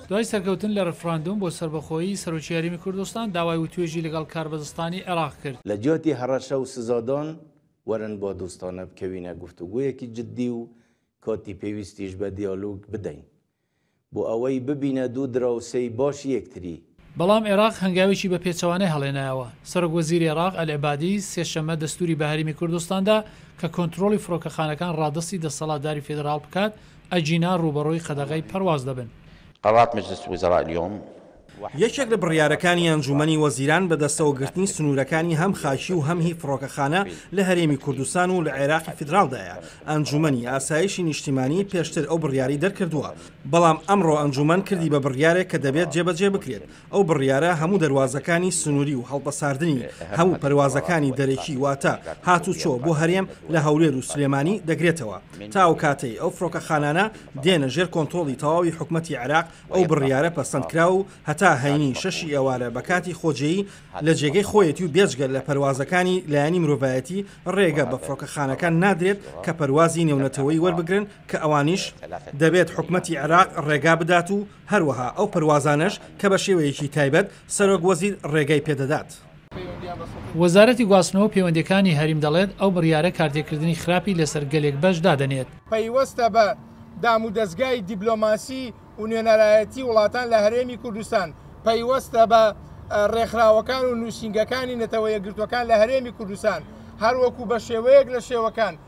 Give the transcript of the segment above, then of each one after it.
دوای سەرکەوتن لە رفراندوم بۆ سەربەخۆیی، سەرۆکی هەرێمی کوردستان داوای وتوێژی لەگەڵ کاربەدەستانی عێراق کرد. لە جیاتی هەڕەشە و سزادان، وەرن با دۆستانە بکەوینە گفتوگۆیەکی جددی و کاتی پێویستیش بە دیالۆگ بدەین، بۆ ئەوەی ببینە دوو دراوسێی باشی یەکتری. بەڵام عێراق هەنگاوێکی بە پێچەوانەی هەڵێنایەوە. سەرۆک وەزیری عێراق، ئەلعبادی، سێ شەممە دەستووری بە هەرێمی کوردستان دا کە کۆنترۆڵی فڕۆکەخانەکان ڕادەستی دەسەڵاتداری فیدڕاڵ بکات، ئەگینا ڕووبەڕووی قەدەغەی پەرواز دەبن. قەرات مجلس وزراء الیوم. یەکێک لە بڕیارەکانی ئەنجوومەنی وەزیران بە دەستەوە گرتنی سنوورەکانی هەم خاکی و هەم هی فڕۆکەخانە لە هەرێمی کوردستان و لە عێراقی فیدراڵدایە. ئەنجوومەنی ئاسایشی نیشتیمانی پێشتر ئەو بڕیارەی دەرکردووە بەڵام ئەمڕۆ ئەنجوومەن کردی بە بڕیارێک کە دەبێت جێبەجێ بکرێت، ئەو بڕیارە هەموو دەروازەکانی سنووری و هەڵپەساردنی هەموو پەروازەکانی دەرەکی واتە هاتوچۆ بۆ هەرێم لە هەولێر و سلێمانی دەگرێتەوە تا ئەو کاتەی ئەو فڕۆکەخانانە دێنە ژێر کۆنترۆڵی تەواوی حکومەتی عێراق ئەو بڕیارە پەسەندکراوە و هەتا هەینی شەشی ئێوارە بە کاتی خۆجێی لە جێگەی خۆیەتی و بێجگە لە پەروازەکانی لایەنی مرۆڤایەتی ڕێگە بە فڕۆکەخانەکان نادرێت کە پەروازی نێونەتەوەی وەربگرن کە ئەوانیش دەبێت حکومەتی عێراق ڕێگا بدات و هەروەها ئەو پەروازانەش کە بە شێوەیەکی تایبەت سەرۆک وەزیر ڕێگای پێ دەدات. وەزارەتی گواستنەوەو پەیوەندیەکانی هەریم دەڵێت، ئەو بڕیارە کارتێکردنی خراپی لەسەر گەلێک بەش دادەنێت. پەیوەستە بە دامودەزگای دیبلۆماسی ونوێنەرایەتی وڵاتان لە هەرێمی کوردستان، پەیوەستە بە ڕێکخراوەکان و نوسینگەکانی نەتەوە یەکگرتوەکان لە هەرێمی کوردستان، هەروەکو بە شێوەیەک لە شێوەکان،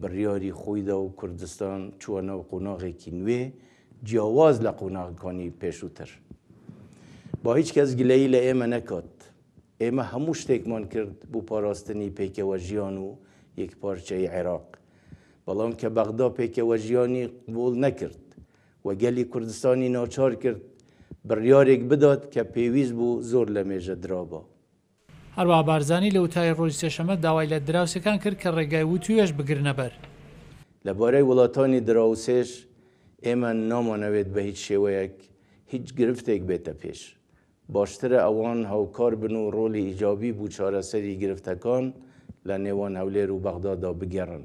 بڕیاری خۆی دا و کوردستان چووە ناو قۆناغێکی نوێ جیاواز لە قۆناغەکانی پێشووتر. با هیچ کەس گلەیی لە ئێمە نەکات. ئێمە هەموو شتێکمان کرد بۆ پاراستنی پێکەوەژیان و یەکپارچەیی عێراق. بەڵام کە بەغدا پێکەوەژیانی قبوڵ نەکرد و گەلی کوردستانی ناچار کرد بڕیارێک بدات کە پێویست بوو زۆر لەمێژە درابا. هەروەها بارزانی لە وتاری ڕۆژی سێشەممە داوای لە دراوسێکان کرد کە ڕێگای وتووێژ بگرنە بەر. لە بارەی وڵاتانی دراوسێش، ئێمە نامانەوێت بە هیچ شێوەیەک هیچ گرفتێک بێتە پێش. باشترە ئەوان هاوکار بن و ڕۆڵی ئیجابی بو چارەسەری گرفتەکان لە نێوان هەولێر و بەغدادا بگێڕن.